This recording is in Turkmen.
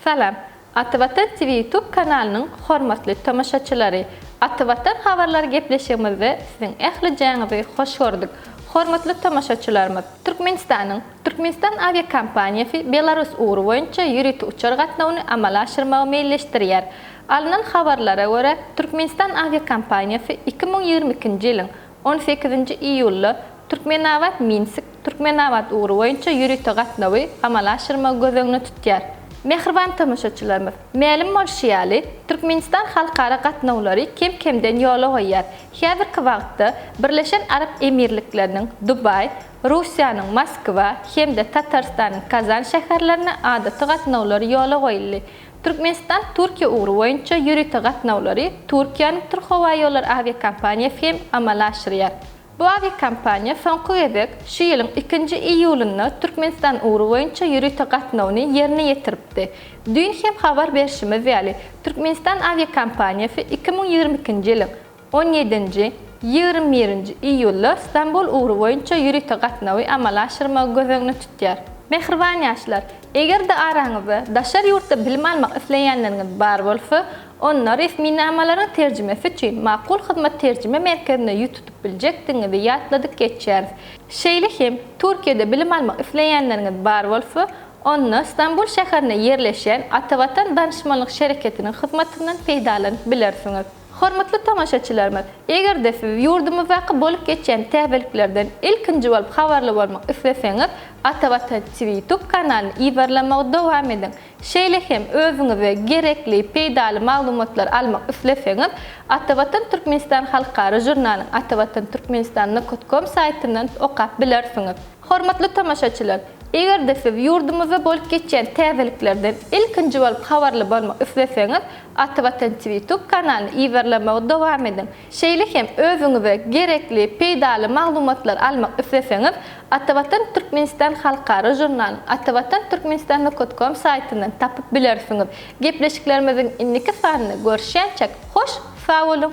Salam. Aty Watan TV YouTube kanalynyň hormatly tomaşaçylary. Aty Watan habarlary gepleşigimizde siziň ählijäňizi hoş gördük. Hormatly tomaşaçylarymyz, Türkmenistanyň Türkmenistan awiakompaniýasy Belarus ugry boýunça ýörite uçar gatnawyny amala aşyrmagy meýilleşdirýär. Alnan habarlara görä, Türkmenistan awiakompaniýasy iki müň ýigrimi ikinji ýylyň On sekizinji iýulda Türkmenabat, Minsk, Türkmenabat ugry boýunça ýörite gatnawy amala aşyrmagy göz öňüne tutýar. Mähriban tomaşaçylarymyz! Mälim bolşy ýaly, Türkmenistan halkara gatnawlary kem-kemden ýola goýýar. Häzirki wagtda Birleşen Arap Emirlikleriniň Dubaý, Russiýanyň Moskwa hem-de Tatarystanyň Kazan şäherlerine adaty gatnawlar ýola goýuldy. Türkmenistan Türkiýe ugry boýunça ýörite gatnawlary Türkiýäniň Türkhowaýollary awiakompaniýasy hem amala aşyrýar. Bu awiakompaniýa soňky gezek şu ýylyň ikinji iýulynda Türkmenistan ugry boýunça ýörite gatnawny ýerine ýetiripdi. Düýn hem habar berşimiz ýaly, Türkmenistan awiakompaniýasy iki müň ýigrimi ikinji ýylyň On ýedinji, ýigrimi birinji iýullar Stambul ugry boýunça ýörite gatnawy amala aşyrmagy göz öňüne tutýar. Mähriban ýaşlar, eger-de araňyzda daşary ýurtda bilim almak isleýänleriňiz bar bolsa, onda resminamalaryň terjimesi üçin Makul Hyzmat terjime merkezine ýüz tutup biljekdigiňizi ýatladyp geçýäris. Şeýle hem, Türkiýede bilim almak isleýänleriňiz bar bolsa, onda Stambul şäherinde ýerleşýän Atavatan Danyşmanlyk şereketiniň hyzmatyndan peýdalanyp bilersiňiz. Hormatly tomaşaçylarymyz, eger-de siz ýurdumyzdaky bolup geçýän täzeliklerden ilkinji bolup habarly bolmak isleseňiz, Ata Watan TV YouTube kanalyny yzarlamagy dowam ediň. Şeýle hem özüňize gerekli, peýdaly maglumatlary almak isleseňiz, Ata Watan Türkmenistan halkara žurnalyň Atavatan Turkmenistan Nokot Kom saýtyndan okap bilersiňiz. Hormatly tomaşaçylar! Eger-de siz ýurdumyzda bolup geçýän täzeliklerden ilkinji bolup habarly bolmak isleseňiz, Ata Watan TV YouTube kanalyny yzarlamagy dowam ediň. Şeýle hem özüňize gerekli, peýdaly maglumatlary almak isleseňiz, Ata Watan Türkmenistan halkara žurnalyny atawatanturkmenistan.com saýtyndan tapyp bilersiňiz. Gepleşiklerimiziň indiki sanynda görüşýänçäk, hoş sag boluň!